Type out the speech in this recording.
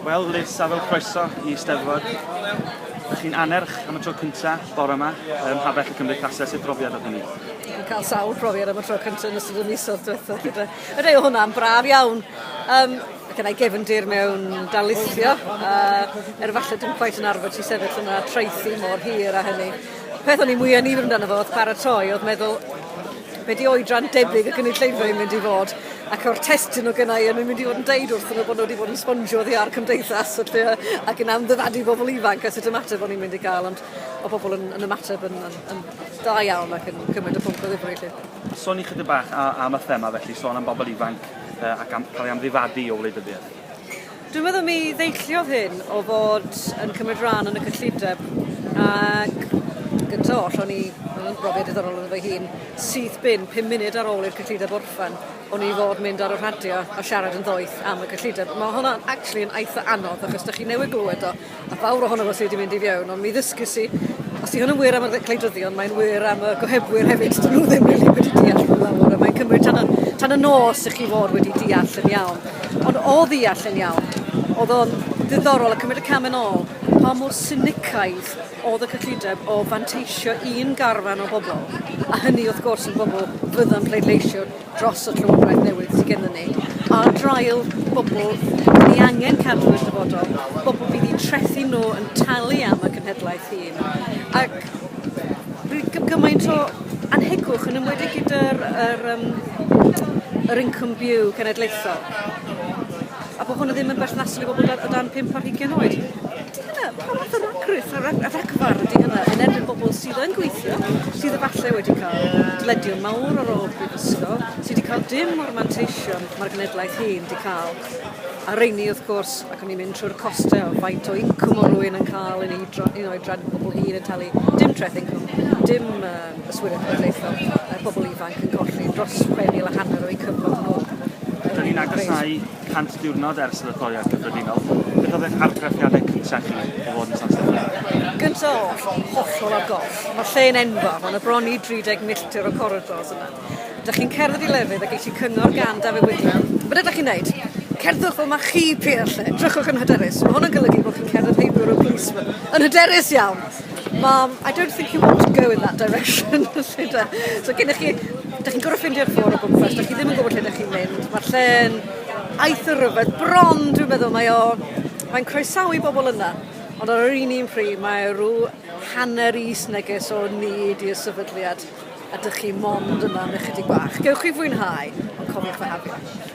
Wel Liz, a fel croeso i Steddfod. Dych chi'n anerch am y tro cynta bore yma ym Mhabell y Cymdeithasau, sut brofiad oedd hynny? Dwi'n cael sawl profiad am y tro cynta yn ystod y misoedd diwethaf gyda. Yr ei hwnna'n braf iawn. Um, gyda i gefndir mewn darlithio, uh, er falle dwi'n quite yn arfer ti sefyll yna traethu mor hir a hynny. Peth o'n i mwyaf nifr amdano fo oedd paratoi, oedd meddwl, be di oedran debyg y gynulleidfa yn mynd i fod, ac o'r testyn o gynnau yn mynd i fod yn deud wrthyn nhw bod nhw wedi bod yn sbongio oddi ar cymdeithas felly, ac yn amddifadu bobl ifanc a sut ymateb o'n i'n mynd i gael, ond o bobl yn, yn ymateb yn, yn, yn da iawn ac yn cymryd y pwnc o ddifri lle. Sôn i chydig bach am y thema felly, sôn am bobl ifanc ac am cael ei amddifadu o wleidyddiaeth. Dwi'n meddwl mi ddeilliodd hyn o fod yn cymryd rhan yn y cyllideb ac gynta oll o'n i yn yn brofiad diddorol yn fy hun syth bin pum munud ar ôl i'r cyllideb orffen o'n i fod mynd ar y rhadio a siarad yn ddoeth am y cyllideb. Ma' hwnna'n actually yn eitha anodd achos 'dych chi newydd glywed o A fawr ohono fo sy wedi mynd i fiewn, ond mi ddysgus i, os di hwn yn wir am y gwleidyddion, mae'n wir am y gohebwyr hefyd, dyn nhw ddim really wedi deall nhw lawr, a mae'n cymryd tan y, tan y nos i chi fod wedi deall yn iawn. Ond o ddeall yn iawn, oedd o'n ddiddorol a cymryd y cam yn ôl pa mor sinicaidd oedd y cyllideb o fanteisio un garfan o bobl, a hynny wrth gwrs yn bobl fydda'n pleidleisio dros y llywodraeth newydd sydd gennym ni, ar draul bobl dyn ni angen cadw yn dyfodol, bobl fydd eu trethu nhw yn talu am y cenhedlaeth hyn. Ac bydd gymaint o anhegwch yn ymwedig gyda'r yr, um, yr income view cenedlaethol. a bo' hwnna ddim yn berthnasol i bobol da- o dan pump ar hugian oed. Ydi hynna, pa fath o ragrith a ra- a ragfarn ydi hynna yn erbyn bobol sydd yn gweithio, sydd efalle wedi ca'l dyledion mawr ar ôl prifysgol, sy 'di ca'l dim o'r manteision ma'r genedlaeth hŷn 'di ca'l, a rheini wrth gwrs, ac o'n i'n mynd trwy'r coste o faint o incwm o' rywun yn ca'l yn ei dro- yn oedran pobol hŷn yn talu dim treth incwm, dim yy Yswiriant Cenedlaethol, mae pobl ifanc yn colli dros 6,000 a hanner o'u cyflog nhw yn Wales. Rydyn ni'n agosáu 100 diwrnod ers yr etholiad cyffredinol. Beth oedd eich argraffiadau cyntaf chi o fod yn San Steffan? Gyntaf oll, hollol ar goll. Mae'r lle yn enfawr, mae 'na bron i 30 milltir o coridors yna. Ydych chi'n cerdded i lefydd a geisio cyngor gan Dafydd Widdler? Be ydych chi'n neud? Cerddwch fel mae chi, Pierre, 'lly. Drychwch yn hyderus. Mae hwn yn golygu bod chi'n cerdded heb Europoliceman. Yn hyderus iawn! Mam, I don't think you want to go in that direction. so gennych chi, da chi'n gorau ffindio'r ffôn o gwmpas, da chi ddim yn gwybod lle da chi'n mynd. Mae'r lle'n aeth o rhyfedd, bron dwi'n meddwl mae o, mae'n croesawu bobl yna. Ond ar yr un un pri, mae rhyw hanner is neges o nid i'r sefydliad a dych chi mond yma am ychydig bach. Gewch chi fwynhau, ond cofiwch fe hafio.